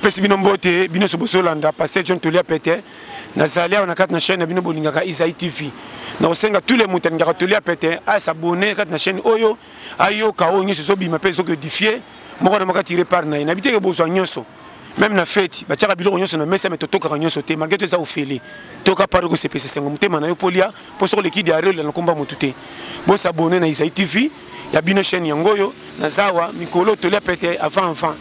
napesi bino mbote bino so bosolanda paster john tolia pete nazali awa na kati na chaîne na bino bolingaka isai tv nakosenga tous les moto alingaka tolia pete asabone kati na chaîne oyo ayoka oyo nyonso ezobima mpe ezokodifie moko na moko atire part na ye nayebi teke bozwa nyonso meme na feti batyaka biloko nyonso na mesa me totokaka nyonso te malgre to eza ofele toyoka part okosepesa esengo motema na yo mpo lia mpo soko leki diare olela na nkomba motu te bosabone na isai tv ya bino chaîne yango oyo nazawa mikolo tolia pete avant avant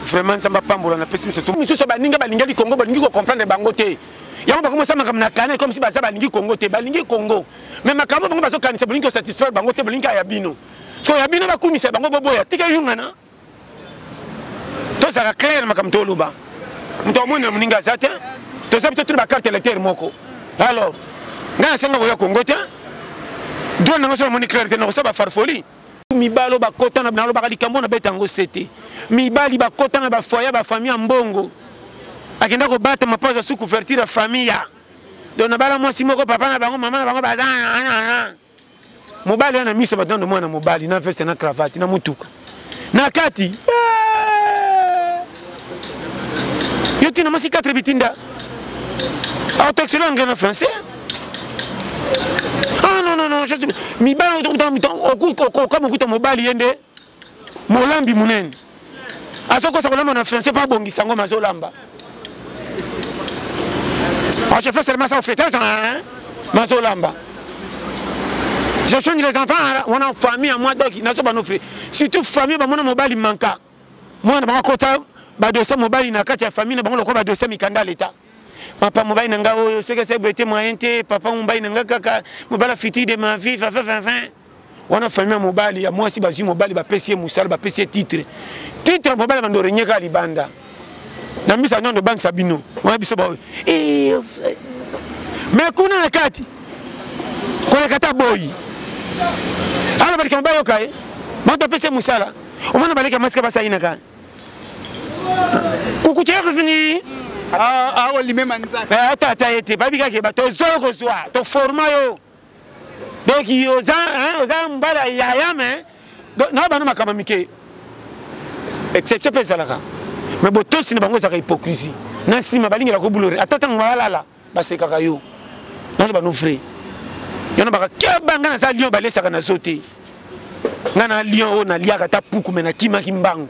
vraiment nzambe apambola na pesi miso misusu baninga balinga likongo balingi kocomprendre bango te yango bakomosala makambo na kanai comme si baza balingi kongo te balingi kongo mais makambo bango bazokanisa bolingi kosatisfaire bango te bolingi aya bino so ya bino bakumisa bango boboya tika eyungana tozala claire makambo toloba moto amonela moninga aza te toza bito tuli bacarte électeur moko alors ngai nasenga koya kongo te droit nango so namoni claire te nakosala bafarfoli mibali oyo bakota na nalobaka likambo na beta yango sete mibali bakota na bafoye ya bafamille ya mbongo akenda kobatama mpo aza su couverture ya famille donc nabala mwasi moko papa na bango mama na bango baza mobali wana miso batando mwana mobali na veste na cravate na motuka na kati eh! yo tina mwasi 4 bitinda autoxilo anglais na français ah non non non mibali okama okuta mobali ye nde molambi monene azokosa kolamba na français mpo abongisa yango mazolamba ah, je fais seulement ça au fêtage hein? mazolamba je change les enfants hein? wana famille ya mwa doki nazo banofre surtout famille bamona mobali manka mwana bango akota badosie mobali na kati ya famille na bango lokola badosie mikanda ya leta papa mobali na ngai oyo soki asai boye te moyen te papa mobali na ngai kaka mobala futur de ma vie vavavavin wana famille ya mobali ya mwasi bazwi mobali bapesi ye mosala bapesi ye titre titre mobali ya bando renyeka libanda na misa nando obangisa bino wana biso baoyo eh, me kuna na kati koleka ata boyi ala balika mobali yoka ye banto apesi ye mosala omona baleki ya mwasi ka basainaka kukutyakufini aolimema ah, ah, nzaka eh, ata ata ye te bayebi kaka bato ozwa yo kozwa toforma yo donc oza oza mobali ya yaya me na bana makambo ya mike exception mpe ezalaka me botosi na bango ezalaka hypocrisie na nsima balingela kobulore ata ntango balala basekaka yo nano bano vrai yo nabaka keba ngai naza lion balesaka na zo te ngai na lion oyo naliaka ata puku me nakimaki mbangu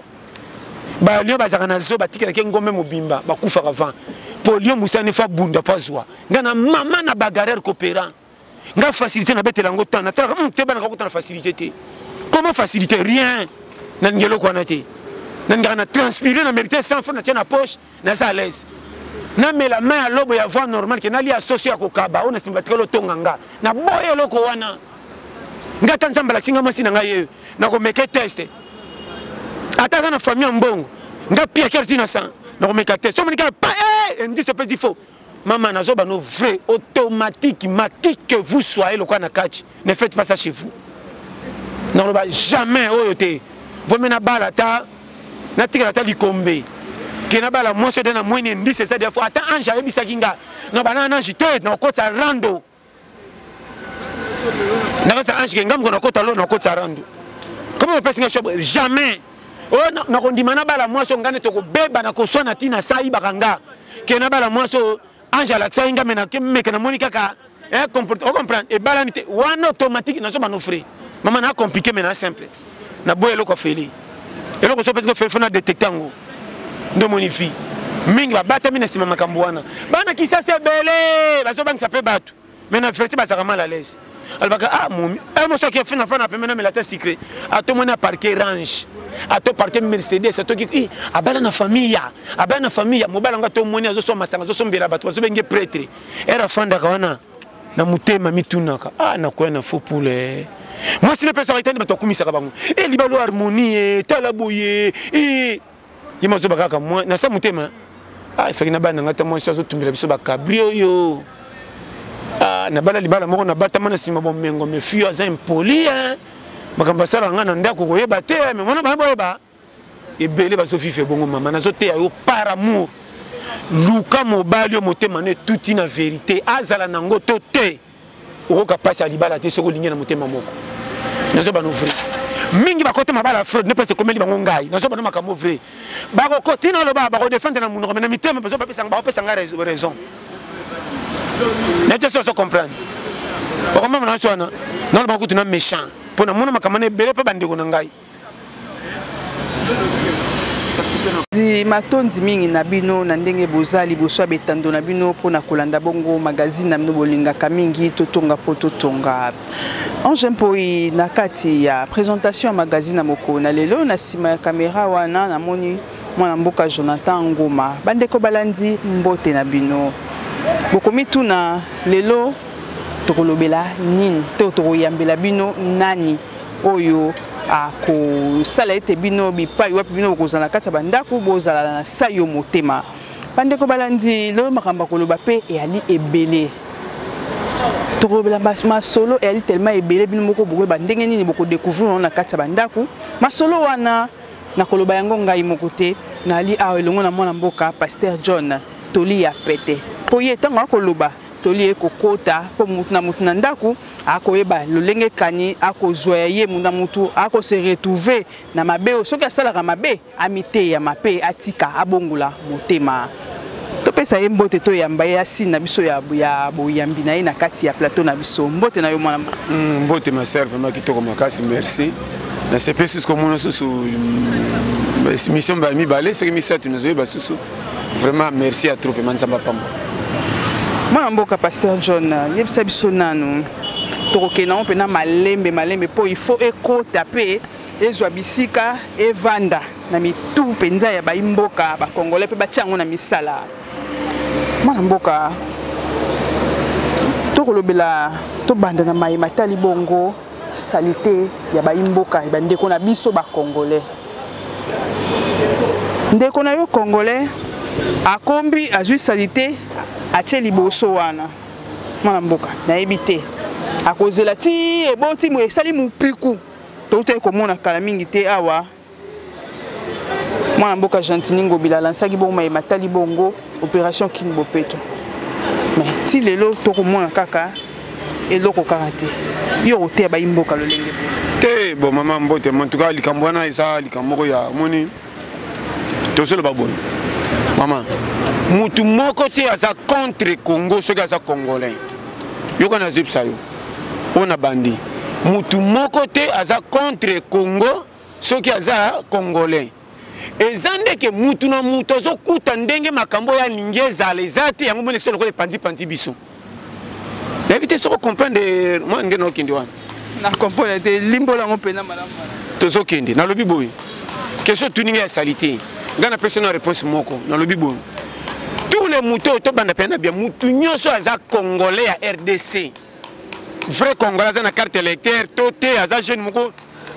balio bazalaka na zo batikelaki ngombe mobimba bakufaka vent mpo lio mosani fo abunda mpo azwa nga na mama na bagarreur coopérant nga facilité nabetela yango temps natalaka hmm, te banaka kota na facilité te comment facilité rien nalingi eloko wana te nalingaka na transpire na mérité sans fo natia na poche naza à l'aise namela mai ya lobo ya voie normale ke nalia soso ya kokaba oyo na nsima batikali otonga nga naboya eloko wana nga ata nzambe alakisi nga mwasi na ngai yeyo nakomeke teste ata aza na famille ya mbongo nga piakere ti na sang nakomeka teste somonike pa eh, indice epesi fo Maman na zoba no vrai automatique ma qui que vous soyez lokola na kati ne faites pas ça chez vous. Na loba jamais oyo te. Vome na bala ta na tikala ta likombe. Ke na bala mwasi de na mwene ndise sa defo ata ange ayebisaki nga. Na bana na ange te na okotsa rando. nakasa ange kenga moko nakota lo nakotisa randu koma bapesi nga shobo jamais oyo oh, nakondima na bala mwasi oyo ngai nde tokobeba na koswana ntina sayibaka nga ke na bala mwasi oyo ange alakisaki nga meke namoni kaka eh, ocomprendre ebalani te wana automatique nazoba nofre mama na compliqué me na simple na boye eloko afeli eloko so pesi ofeli fo na detecte yango nde omoni vie mingi babatami na nsima makambo wana bana kisasa ebele bazobangisa mpe bato mais na verité bazalaka mal à l'aise alobaka ah momi eh, moso ake fina fana pembe na melata secret atomoni aparke range ato parke mercedes atoki i abala na famille ya abala na famille ya mobala yango atomoni azoswa masanga azosombela bato bazobenge pretre ere afandaka wana na motema mitunaka ah nakoya na faux poule eh. mwasi napesaka etani bato akumisaka bango e eh, libalo harmonie e eh, tala boye e ye mazoba kaka mwa na sa motema ah efaki na bana ngai ta mwasi azotumbela biso bakabri oyo ah, nabala libala moko nabatama na nsima bomengo mefio aza impoli makambo asala ngai na ndako koyeba te me mwana bana boyeba ebele bazo vivre bongo mama nazo teya yo par amour luka mobali yo motema no etuti na verité azala nango to te okoka mpasi ya libala te soki olingi na motema moko nazo bano vrai mingi bakota mabala ya fraude nepesa ekomeli bango ngai nazo bano makambo vrai bakokosi na oloba bakodefendre na monoko me na mitema bazo bapesa bakopesa ngai raison na te soso comprendre okomama na nso wana naloba kutu na méchant mpo namona makambo na ebele mpe bandeko na ngai matondi mingi na bino na ndenge boza liboso ya betando na bino mpo na kolanda bongo magazine na bino bolingaka mingi totonga mpo totonga ange mpoi na kati ya présentation ya magazine ya mokolo na lelo na nsima ya kamera wana namoni mwana mboka jonathan ngoma bandeko balandi mbote na bino bokomituna lelo tokolobela nini to tokoyambela bino nani oyo akosala ete bino bipai wapi bino bokozala na kati ya bandako bozala na sai yo motema bandeko balandi lelo makambo akoloba mpe eyali ebele tokolobela masolo eyali telema ebele bino moko bokoyeba ndenge nini bokodekouvrir yango na kati ya bandako masolo wana nakoloba yango ngai moko te nali awa elongo na mwana mboka paster john toli ya pete mpo ye ntango akoloba toli ye kokota mpo motu na motu na ndako akoyeba lolenge kani akozwa ya ye muna mutu akose retrouve na mabe oyo soki asalaka mabe amiteyama mpe atika abongola motema topesa ye mbote toyamba ye asine na biso ya, ya boyambi na ye na kati ya plateau na biso mbote na yo mwana mm, mbote ma sœur vraiment kitoko makasi merci nasepesi sikomona susu mm, mission ba mibale soki misato nazoyeba susu vraiment merci ya trop vraiment nzambe apamba mwana mboka pasteur john yebisa biso nanu tokokende yango mpena malembe malembe mpo il faut ekota mpe ezwa bisika evanda na mitu mpenza ya baimboka bakongolais mpe batya yango na misala mwana mboka tokolobela tobanda na maye matali bongo salite ya bayi mboka ya bandeko na biso ba congolais ndeko na yo congolais akombi azwi salite atie liboso wana mwana mboka nayebi te akozela ti eboti esali mopiku toutaki komona kala mingi te awa mwana mboka gentini ngobila alansaki bongo maye matali bongo opération king bopeto me ti lelo tokomona kaka eloko kaka te yo okoteya bayi mboka lolenge te bo mama mbote mantuka likambo wana eza likambo moko ya moni tozoloba boye mama motu moko te aza contre congo soki aza congolais yoka nazebisa yo oyo na bandi mutu moko te aza contre congo soki aza congolais eza ndeke mutu na mutu azokuta ndenge makambo oyo alingi ezala eza te yango monekisa lokola epanzipanzi biso nayebi te soko comprendre mwa ndenge naokende wana na comprendre te limbola yango mpena malamu tozokende nalobi boye question otuni ngai ya salite ngai napesi na réponse moko nalobi boye tous les moto tobanda mpe na bia motu nyonso aza congolais ya rdc vrai congolais aza na carte électeur to te aza jeune moko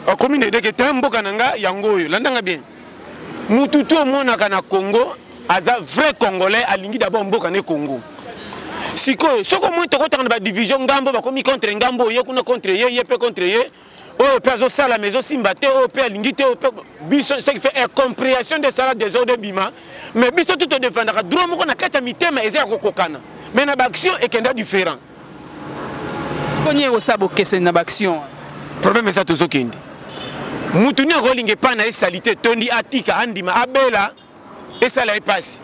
akomi na edeke ta mboka na ngai yango oyo landanga bien motu to omonaka na congo aza vrai congolais alingi d'abord mboka ne congo sikoyo soki omoni tokotaka na badivision ngambo bakomi contre ngambo ye kuna contre ye ye mpe contre ye oyo mpe azosala ma ezosimba te oyo mpe alingi te oyo mpe biso ce qui fait incomprehension nde esala desordre ebima mais biso tu todefendaka droit moko na kati ya mitema eza ya kokokana mais na baaction ekenda différent siko nini ekosala bokeseni na baaction problème eza tozokende motu nini akolinga epai na ye salite tondi atika andima abela esala ye mpasi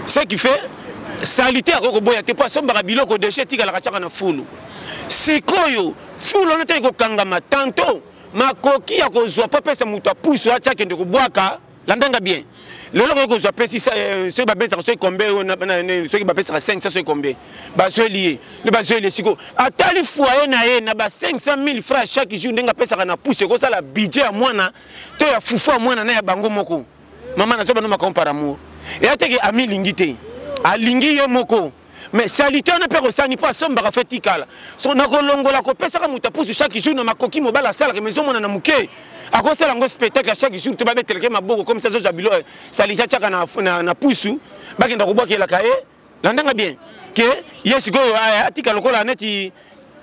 ce qui fait salite akoki koboya te mpo asombaka biloko deja etikalaka tiaka na fulu sikoyo fulu wana tali kokangama tanto makoki ya kozwa mpo apesa moto apusu atya akende kobwaka landanga bien lelo koki kozwa pesi eh, soki babesaka soki kombe soki bapesaka 500 soki kombe bazweli ye nde bazweli ye sikoyo atali foye na ye na ba 500 000 francs chaque jour ndenge apesaka na pusu ekosala budget ya mwana to ya fufu ya mwana na ya bango moko mama nazo bano makambo par amour eya te ke ami lingi te alingi ye moko mais salite wana mpe akosani mpo asombaka fe tikala so nakolongola kopesaka moto apusu chaque jour na makoki mobali asalaka mais ezomona na moke akosala yango spectacle ya chaque jour to babeteleke maboko comme ça azozwa bilo eh, salite atyaka na, na, na pusu bakenda kobwakelaka ye eh. landa nga bien ke ye sikoyo atika lokola neti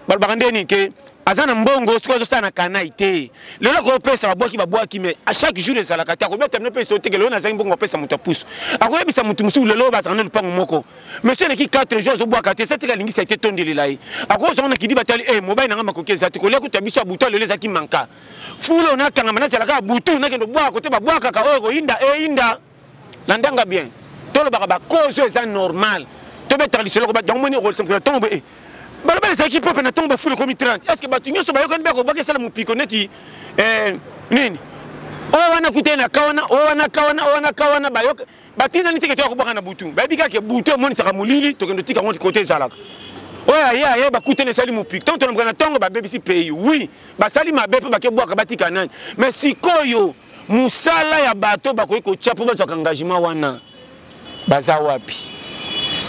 balobaka nde nini ke aza na mbongo soki azosala na kanai te lelo akopesa babwaki babwaki me a chaque jour ezalaka te akobeta bino mpesa oteke lelo nazangi mbongo apesa moto ya pusu akoyebisa moto mosusu lelo bazala na lopango moko monsieur eleki 4 jour azobwaka te sateke alingisa te tondelela ye akozonga na kidi batali e eh, mobali na ngai makoki eza te kolia kuta biso ya butu lelo ezalaki manka fulo nakangama nazalaka butu nakende obwaka kote babwakaka oyo oh, ekoyinda eyinda eh, landa nga bien tolobaka bacause oyo eza normal tobetaka lisolo koba donc moni okolisakela ntongo boye eh, balobala ezalaki mpo mpe na ntongo bafuli ekomi 30 est ce que bato nyonso bayokani mpe akobaki esala mopiko neti eh, nini oyo wana kutai na ka wana oyo wana ka wana oyo wana ka wana bayoka batindani teke toya kobwaka na butu bayebi kaka butu emonisaka molili tokende otika yango kote ezalaka oyo aye aye bakutani esali mopiki ntango tolobaka na ntongo babebisi pays oui basali mabe mpe bakebwaka batika nani mais sikoyo mosala ya bato oyo bakoki kotya mpo bazwaka engagement wana baza wapi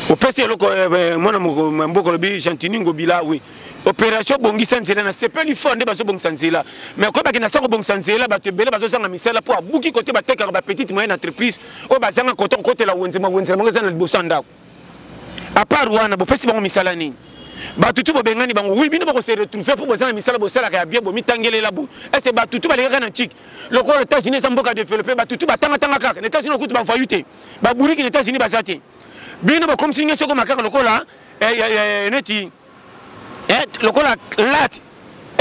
opesi eloko eh, eh, mwana mboka olobi gentini ngobila wi opération bongisa nzela na sepeli fort nde bazobongisa nzela mais koyeba ke na sa kobongisa nzela bato ebele bazozanga misala mpo abuki kote batekaka bapetite moyenne entreprise oyo bazanga kote kokotela wenzema wenzela bango eza na liboso ya ndako apart wana bopesi bango misala nini bato tu bobengani bango wi bino bakose retrouve mpo boza na misala bosalaka ya bie bomitangelela bo ese bato tu balekaka na ntiki lokola états-unis eza mboka développe bato tu batangatanga kaka na états-unis okuti bavayu te baburiki na états-unis baza te bino bokomisi nge soko makaka lokola eh, eh, eh, neti eh, lokola late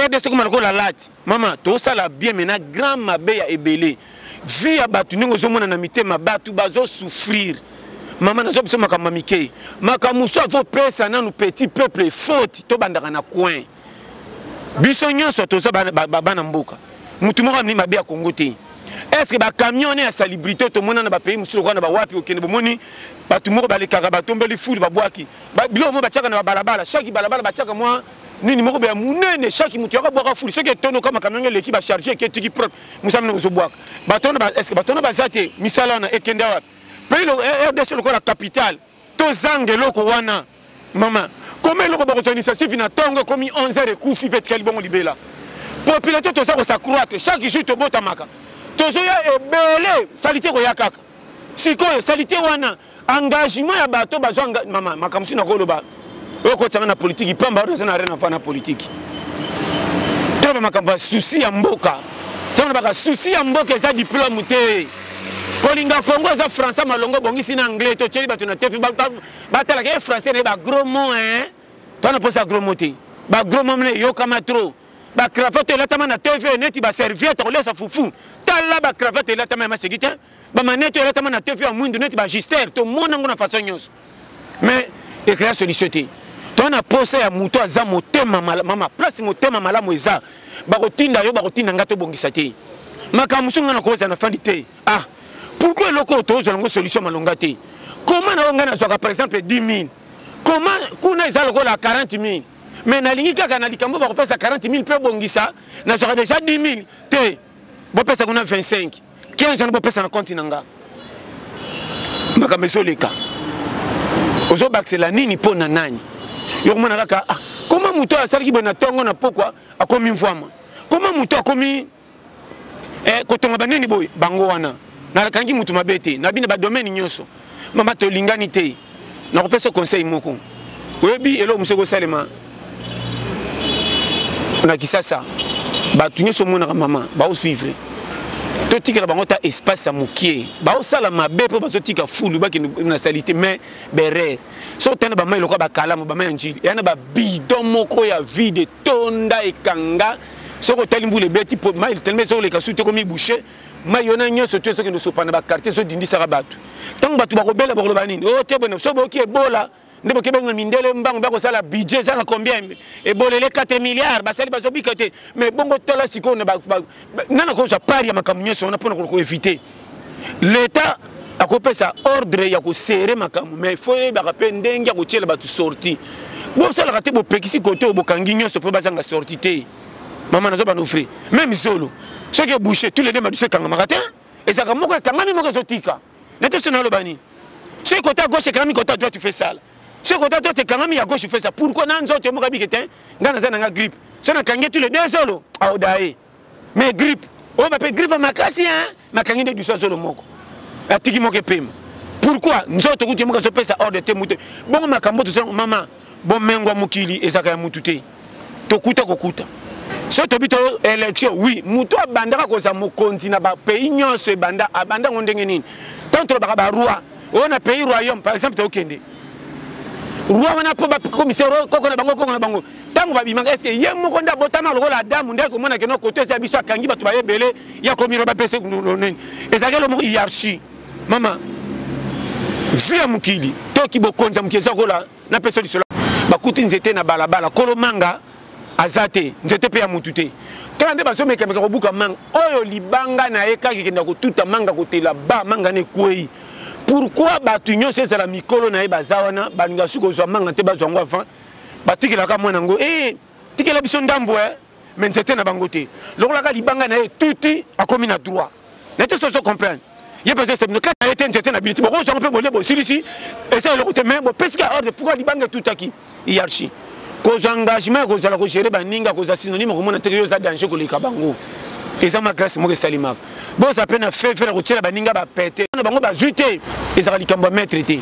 rdc ekoma lokola late mama tosala bien me na grand mabe ya ebele vie ya bato ndenge ozomona na mitema bato bazosouffrir mama nazo biso makambo mike makambo mosusu azopesa nanu petit peuple faute tobandaka na coin biso nyonso toza bana mboka motu moko amini mabe ya kongo te estce bacamion ne ya salibrité tomona na bapays mosusu lokola na bawapi okende bomoni bato moko balekaka batombeli fulu babwaki ba biloko mo batiaka na babalabala chaque balabala batiaka mwa nini moko boya monene chaque moto yaka bwaka fuli soki etondo kama kamionge eleki bacharge eketiki propre mosala mino bozobwaka bato wana estce bato wana baza te misala wana ekenda wapi pays eh, rdc lokola capitale tozanga eloko wana mama koma eloko bakozwa initiative na ntongo ekomi 11 heure ekufi mpe etikali bongo libela popularité toza kosacroitre chaque jour tobotamaka tozoya ebele salite koya kaka sikoyo salite wana engagement ya bato bazwa mama makambo sina koloba oyo kotisanga na politiki mpamba oyo naza na rien afa na politiki tala bamakambo ya susi ya mboka ntango nabaka susi ya mboka eza diplome te kolinga kongo eza français malongo obongisi na anglais totyeli bato na tefi batalaka ye français na ye bagros mo e to na mposa gros mo te bagros mo mna eyokama trop bacravate elatama na tv neti baserviete kolesa fufu tala bacravate elatama ya masegi te bamanete oyo elatama na tefe ya mwindu neti bagister tomona yango na façon nyonso mais ekrea solution te to na posa ya moto aza motema mama place motema malamu eza bakotinda yo bakotinda ngai tobongisa te makambo mosusu ngai nakozala na fandi te ah pourkui eloko oyo tozwa yango solution malonga te koma na oyo ngai nazwaka par exemple 10 000 koma kuna eza lokola 40 000 mais nalingi kaka na likambo bakopesa 40 000 mpe bongisa nazwaka deja 10 000 te bopesa kuna 25 15 wana bopesa na konti na nga makambo ezoleka ozobakisela nini mpo na nani yo komona kaka ah, koma moto oyo asalaki boye na ntongo na pokwa akomi mvwama koma moto akomi eh, kotonga banini boye bango wana nakangi moto mabe te na bino badomene nyonso mama tolingani te nakopesa conseil moko oyebi eloko mosu ekosalema na kisasa bato nyonso omonaka mama baosvivre totikela bango ta espace ya mokie baosala mabe mpo bazotika fulu bakende na salite mais berere so otanda bamai lokola bakalamu bamai ya njili eya na babidon moko ya vide etonda ekanga soki otali mbula ebeti mai telema ezoleka su te komi bouche mai wana nyonso to ezokende osopana bakartier ezodindisaka bato ntango bato bakobela bakoloba nini o oh, te bone so boyoki ebola nde boke benga mindele mbango bakosala budget eza na combien ebola ele 4 milliard basali bazobika te mais bongo tala sikoyo nani akozwa part ya makambo nyonso wana mpona koevite leta akopesa ordre ya kosere makambo mais fo yebaka mpe ndenge ya kotyela bato sorti bosalaka te bopekisi kote oyo bokangi nyonso mpo bazanga sorti te mama nazo bando fri meme zolo soki ebouche tous les deux madusu ekangamaka te ezalaka moko ekangami moko ezotika na te sona aloba nini soki kota ya gauche ekangami kota ya droite fe sala soki kota droite ekangami ya gauche fe sala pourkoi na nzoto emoka bike te ngai naza na nga grippe soki nakangi tous les deux zolo aodaye mais grippe oyo bape grippe makasi hein nakangi nde dusa zolo moko atiki moko epema pourquoi nzoto tokuti ye moko azopesa ordre te moto bongo makambo tozala mama bomengo ya mokili ezalaka ya motu te tokuta kokuta soki tobi to élection oui moto abandaka kozala mokonzi na bapays nyonso ebanda abanda yango ndenge nini ntango tolobaka baroi oyo na pays royaume par exemple tokende roi wana mpo bakomisa koko na bango koko na bango ntango babimaka eske ye moko nde abotama lokola adamu nde akomona keno kote esi ya biso akangi bato baye ebele ya komiro bapese nini ezalaki elo moko hiarchie mama vi ya mokili toki bokonzi ya mokili eza kola na peso lisolo bakuti nzete na balabala kolo manga aza te nzete mpe ya mutu te kala nde bazomekameka kobuka manga oyo libanga na ye kaka ekenda kotuta manga kotela ba manga na ekwei pourkui bato nyonso ezala mikolo na ye baza wana balinga suki kozwa manga te bazwa yango avant batikelaka mwana yango e eh, tikela biso ndambu eh mais nzete na bango te lokola ka libanga na ye tuti akomi na droit na te sozo comprendre ye mpenza esebino kati na ye te nzete na bino te bokozwango mpe bole bosilisi eza eloko te mais bopesi ka ordre pourkoi libanga etutaki hiarchie kozwa engagement ya kozala kogere baninga kozwa synonyme okomona te yo eza danger koleka bango eza ma grace moko esalimaka boza pe na fefe na kotiela baninga bapete na bango bazwi te ezalaka likambo ya maître te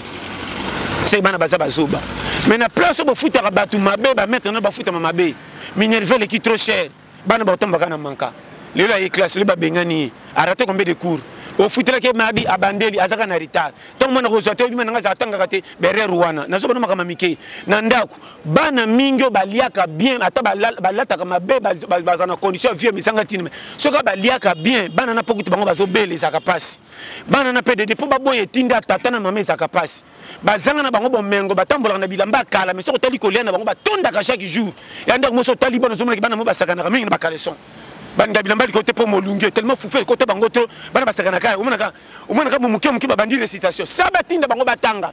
seke bana baza bazoba mais na place oyo bofutaka bato mabe bamaître na bafutama mabe minerve eleki trop cher bana baotambaka na manka lelo aye classe lelo babengani ye arate combien de cours ofutelaki mardi abandeli azaka na retard ntango mwana kozwa te obima nanga azala atangaka te berere wana nazobana makambo mike na ndako bana mingi oyo baliaka bien ata balataka mabe baza na condition ya vie misanga tinime soki baliaka bien bana na pokutu bango bazobela ezalaka mpasi bana na pdd mpo baboya etinda tata na mama ezalaka mpasi bazanga na bango bomengo batambolaka na bilamba ya kala mai soki otali kolia na bango batondaka chaque jour ya ndako mosi otali bana ozomonaki bana mo basakanaka mingi na bakaleson balinga bilamba likolo te mpo molunge tellement fufe ekota bango to bana basakanaka omonaka omonaka momuke moke babandi recitation sa batinda bango batanga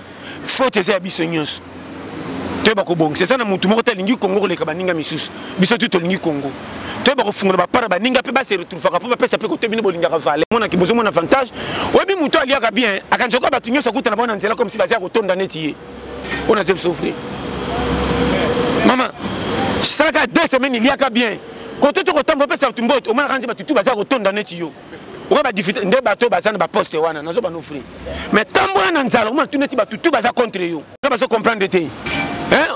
faute eza ya biso nyonso toyeba kobongisa eza na motu moko te alingi kongo koleka baninga misusu biso tu tolingi kongo toyeba kofungola bapara baninga mpe base retrouvaka mpo bapesa mpe kote bino bolingaka vale monaki bozomona avantage oyebi motu aliaka bien akanjaka bato nyonso akutana bango na nzela komsi baza ya kotonda neti ye oyo nazo biso ofrir mama salaka deux semaine eliaka bien koto tokotambola opesa bato mbote omonaka nze bato tu baza kotonda neti yo oka badifite nde bato oyo baza na baposte wana nazo banofri mais tambola na nzala omona tuna ti bato tu baza contre yo nga bazo comprendre te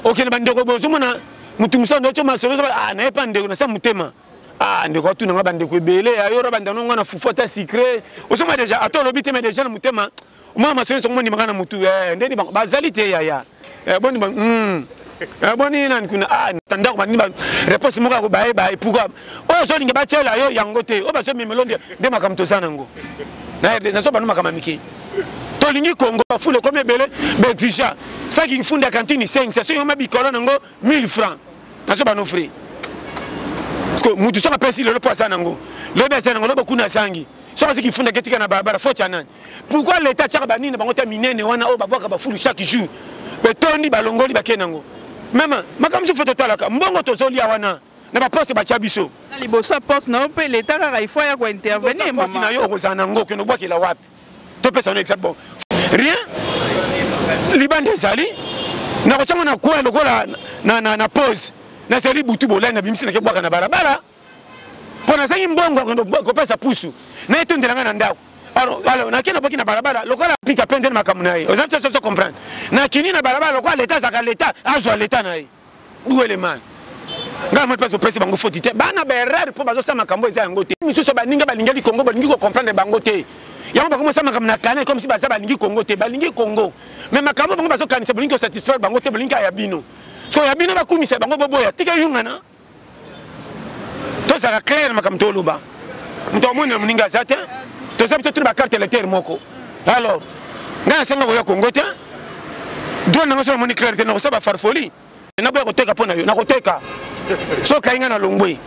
okende bandeko boye ozomona motu mosala nde otyo masolo ozoba ah, naye mpa ndeko nasa motema ah, ndeko atuna nga bandeko ebele ayora bandano nga na fufu ata sucre ozoma deja ata olobi te ma deja na motema mwana masolo nyonso mondimaka na motu eh, ndeni bango bazali te yaya eh, boni ba hmm. eh, boni nani kuna ah, ndako banini ba réponse moko yako baye baye pourquoi oyo ozolinga batyela yo yango te oyo bazomemelo nde makambo toza nango nazo bano makambo mike tolingi kongo bafula ekomi ebele baexigea saki mfunda ya kantini 5 soki yoma bikolo nango 1000 francs nazo bano frais parce que mutu soki apesi lelo mpo aza nango lobi aza nango lobi okuna azangi soki aziki funda ketika na balabala foti ya nani pourquoi leta atyaka banini na bango ta minene wana oyo babwaka bafulu chaque jour betondi balongoli bakei nango meme makambo mosusu fo totalaka mbongo tozolia wana na baposte batya biso liboso ya porte na yo mpe leta kaka ifo ya kointervenir mama na yo okozala na ngo okende obwakela wapi topesa no exemple bon rien libanda ezali nakotyango na kwe lokola na pose nazali butu bolai na bimisi nake bwaka na balabala mpo nazangi mbongo ya kokende kopesa pusu na etondela ngai na ndako alors nake nabwaki na balabala lokola pika pende na makambo na ye oza soso comprendre nakini na balabala lokola leta azalaka leta azwa leta na ye duelemane ngai moni mpasi opesi bango foti te bana baerreur mpo bazosala makambo eza yango te misusu baninga balingeli kongo balingi kocomprendre bango te yango bakomisa makambo na kane comme si baza balingi kongo te balingi kongo mais makambo bango bazokanisa bolingi kosatisfaire bango te bolingi aya bino so ya bino bakumisa bango boboya tika eyungana tozala claire makambo toloba moto amoni na moninga aza te toza bito tuna bacarte électeur moko alors ngai nasenga koya kongo te drone nango so namoni claire te nakosala bafarfoli naboya koteka mpo na yo nakoteka so kai ngai na longwe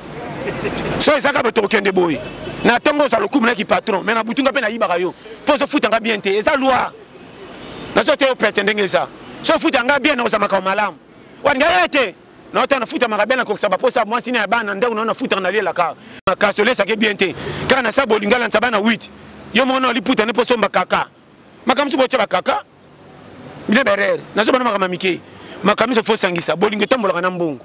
so ezaka bato kokende boye na ntongo oza lokumu naki patron mai na butu nga mpe nayibaka yo mpo ozofuta nga bien te eza loi nazo te yo prete ndenge eza so ofuta nga bien nakozala makambo malamu waninga ye te na ota na futa makabe na kokisa baposa mwasi na ya bana ndako na na futa na lela ka makasi olesa ke bien te kaka na sa bolinga la nsaba na 8 yo mona oli puta ne po somba kaka makambo so bocha bakaka bile berere na so bana makambo mike makambo so fo sangisa bolingo tambolaka na mbongo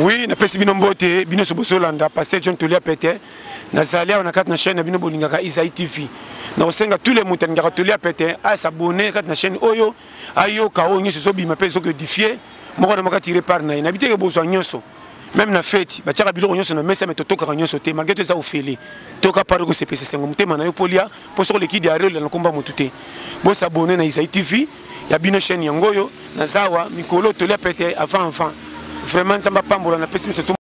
oui napesi bino mbote bino nyonso bosolanda paster john tolia pete nazali awa na kati na chaîne na bino bolingaka isai tv nakosenga tous les moto alingaka tolia pete asabone kati na chaîne oyo ayoka oyo nyonso ezobima mpe ezoki odifie moko na moko atire part na ye nayebi teke bozwa nyonso meme na feti batiaka biloko nyonso na mesa me totokaka nyonso te malgre to eza ofele toyoka pari kosepesa esengo motema na yo mpo lia mpo soko leki diare olela na nkomba motu te bosabone na isai tv ya bino chaîne yango oyo nazawa mikolo tolia pete avant avant vraiment nzambe apambola na pesi miso